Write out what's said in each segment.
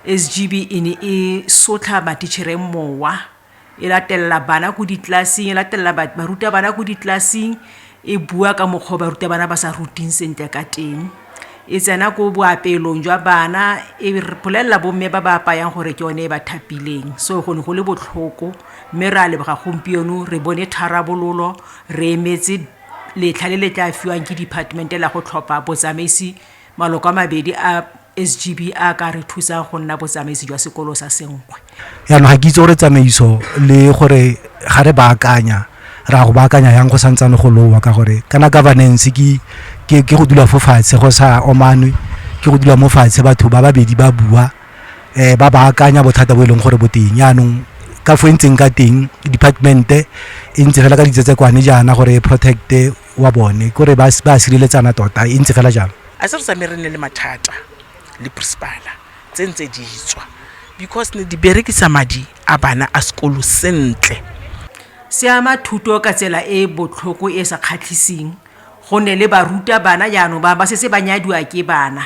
SGB e ne e sotlha matitšhere mowa, e latelela bana ko ditlelaseng, e latelela barutabana ko ditlelaseng, e bua ka mokgwa o barutabana ba sa ruting sentle ka teng. E tsena ko boapeelong jwa bana, e bolelela bomme ba ba apayang gore ke yone e ba thapileng. So go ne go le botlhoko, mme re a leboga gompieno re bone tharabololo, re emetse letlha le le tla fiwang ke department-e la go tlhopha botsamaisi maloko a mabedi a SGB a ka re thusa go nna botsamaisi jwa sekolo sa senkgwe. Jaanong ga ke itse gore tsamaiso le gore ga re baakanya ra go baakanya yang go santsane go lowa ka gore kana governance ke ke go dula fo fatshe go sa omanwe ke go dula mo fatshe batho ba babedi ba bua eh ba ba akanya bothata bo e leng gore bo teng yaanong ka fo e ntseng ka teng department e ntse fela ka ditsetsekwane jaana gore e protect wa bone kore ba a sireletsana tota e ntse fela jalo a se re tsamaye re nne le mathata le principala tse ntse di tswa because ne di berekisa madi a bana a sekolo sentle se ama thuto ka tsela e e botlhoko e e sa kgatlhiseng gonne le baruta bana jaanong ba ba setse ba nyadiwa ke bana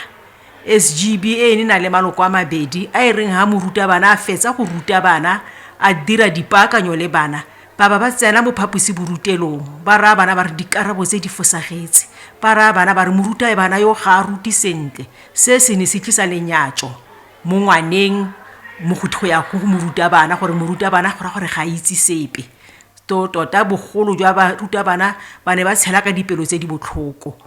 sgb e ne na le maloko a mabedi a e reng ga moruta bana a fetsa go ruta bana a dira dipaakanyo le bana Ba ba ba tsena mo phaposiborutelong ba raya bana ba re dikarabo tse di fosagetse. Ba raya bana ba re morutae bana yo ga a ruti sentle. Se se ne se tlisa lenyatso mo ngwaneng mo go go ya go morutabana gore morutabana go ra gore ga a itse sepe. To tota bogolo jwa barutabana ba ne ba tshela ka dipelo tse di botlhoko.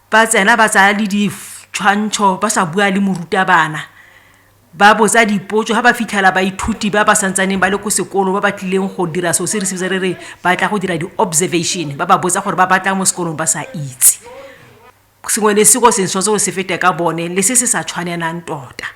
ba tsena ba tsaya le ditshwantsho ba sa bua le morutabana ba botsa dipotso ga ba fitlhela baithuti ba ba santsaneng ba le ko sekolo ba ba tlileng go dira seo se re sebetsa re re ba tla go dira di-observation ba ba botsa gore ba batlang mo sekolong ba sa itse sengwe le seko sengwe tshwanetse go se fete ka bone le se se sa tshwanelang tota